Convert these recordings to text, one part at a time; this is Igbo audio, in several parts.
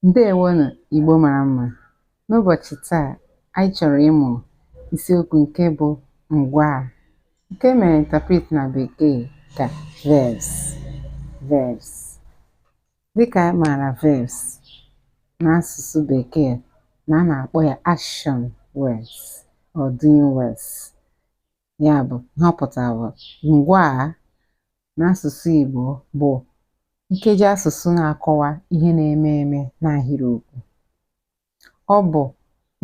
Ndewonụ Igbo mara mma. N'ụbọchị taa, anyị chọrọ ịmụ isiokwu nke bụ ngwaa nke e mere interpret na bekee ka verbs verbs. Dịka a maara verbs n'asụsụ bekee na a na-akpọ ya action words or doing words. ya bụ ihe ọ pụtara bụ ngwaa n'asụsụ Igbo bụ nkeji asụsụ na-akọwa ihe na-eme eme n'ahịrịokwu. Ọ bụ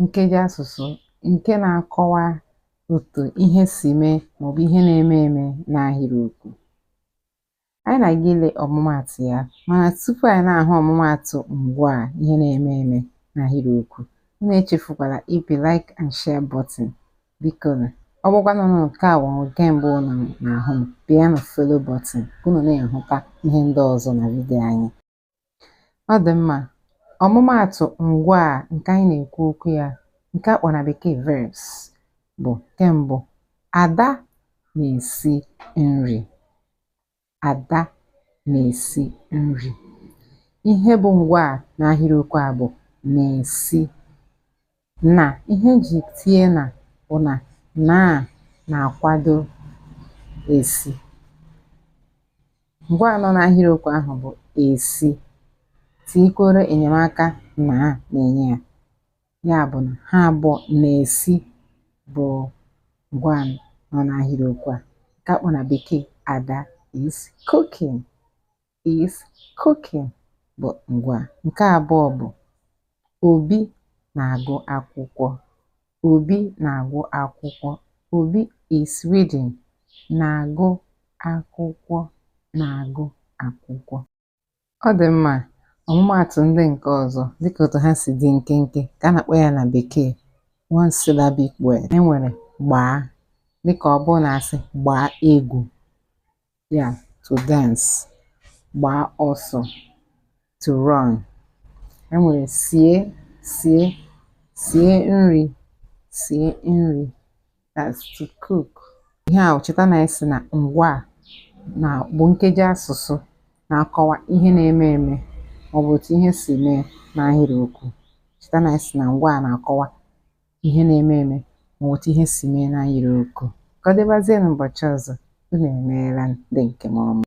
nkeji asụsụ nke na-akọwa otu ihe si mee maọbụ ihe na-eme eme n'ahịrịokwu. Anyị na-aga ile ọmụmaatụ ya, mana tupu anyị na-ahụ ọmụmaatụ ngwaa ihe na-eme eme n'ahịrịokwu, unu echefukwala ịpị like and share button. Bikonụ, ọ bụkwanụ na nke a bụ nke mbụ unu na-ahụ m, pịanụ follow button ka unu na-ahụta ihe ndị ọzọ na vidiyo anyị. Ọ dị mma. Ọmụmaatụ ngwaa a nke anyị na-ekwu okwu ya nke a kpọrọ na bekee verbs bụ nke mbụ, Ada na-esi nri. Ada na-esi nri. Ihe bụ ngwaa n'ahịrịokwu a bụ na-esi. na ihe e ji tinye na bụ na na na-akwado esi ngwaa nọ n'ahịrịokwu ahụ bụ esi tikworo enyemaka na na-enye ya ya bụ na ha abụọ na-esi bụ ngwaa nọ n'ahịrịokwu a nke a kpọ na bekee Ada is cooking is cooking bụ ngwaa. Nke abụọ bụ Obi na-agụ akwụkwọ. Obi na-agụ akwụkwọ. Obi is reading. Na-agụ akwụkwọ. Na-agụ akwụkwọ. Ọ dị mma. Ọmụmaatụ ndị nke ọzọ dịka otu ha si dị nkenke ka a na-akpọ ya na bekee one syllabic word. E nwere gbaa dịka ọ bụrụ na a sị gbaa egwu. ya to dance gbaa ọsọ to run e nwere sie sie sie nri sie nri that's to cook ihe a cheta na a sị na ngwaa na-abụ nkeji asụsụ na-akọwa ihe na-eme eme maọbụ otu ihe si mee n'ahịrịokwu cheta na a sị na ngwaa na-akọwa ihe na-eme eme maọbụ otu ihe si mee n'ahịrịokwu. Ka ọ dịbazienụ ụbọchị ọzọ, unu emeela ndị nke m ọma.